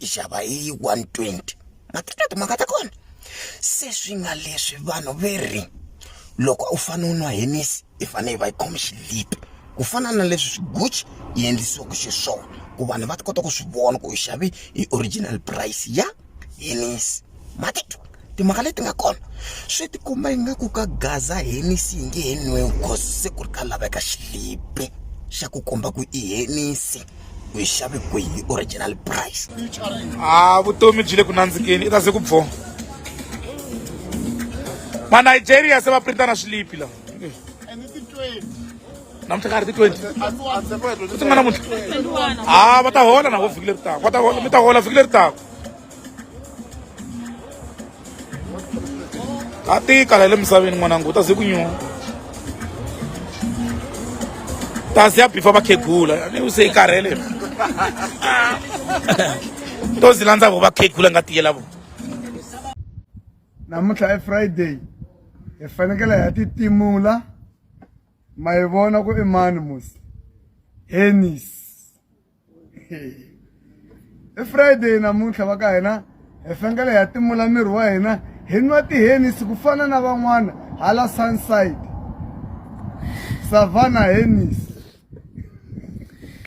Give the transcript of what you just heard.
yi xava hi 120 ma teka timhaka ta kona se swi nga leswi vanhu ve ri loko u fane u nwa henisi i fane yi va yi khome xilipi ku fana na leswi swiguchi yi endlisiwaka xiswona ku vanhu va ta kota ku swi vona ku u xave hi original price ya henisi ma titwa. timhaka leti nga kona swi ti kuma ingaku ka gaza henisi yi nge he nwiwi cause se ku ri ka laveka xilipi xa ku komba ku i henisi ku yi xave kwihi original price a vutomi byi le ku nandzikeni i ta ze ku bvo manigeria se va printana swilipi lawa namuntlha ka ha ri ti twenty ku ti nga namuntlha a va ta hola na vo vhiki leri taka va ta hola mi ta hola vhiki leri taka a tika la le misaveni n'wananga u ta ze ku nyuma ta ze ya bifa vakhegula ni u se yi karhele to zi landza vo vakhegula nga tiyela vo namuntlha i friday hi fanekele hi ya titimula ma yi vona ku i mani musi henis i friday namuntlha va ka hina hi fengele ha timula miri wa hina hi nwa tihenisi ku fana na van'wana hala sunside savana henisi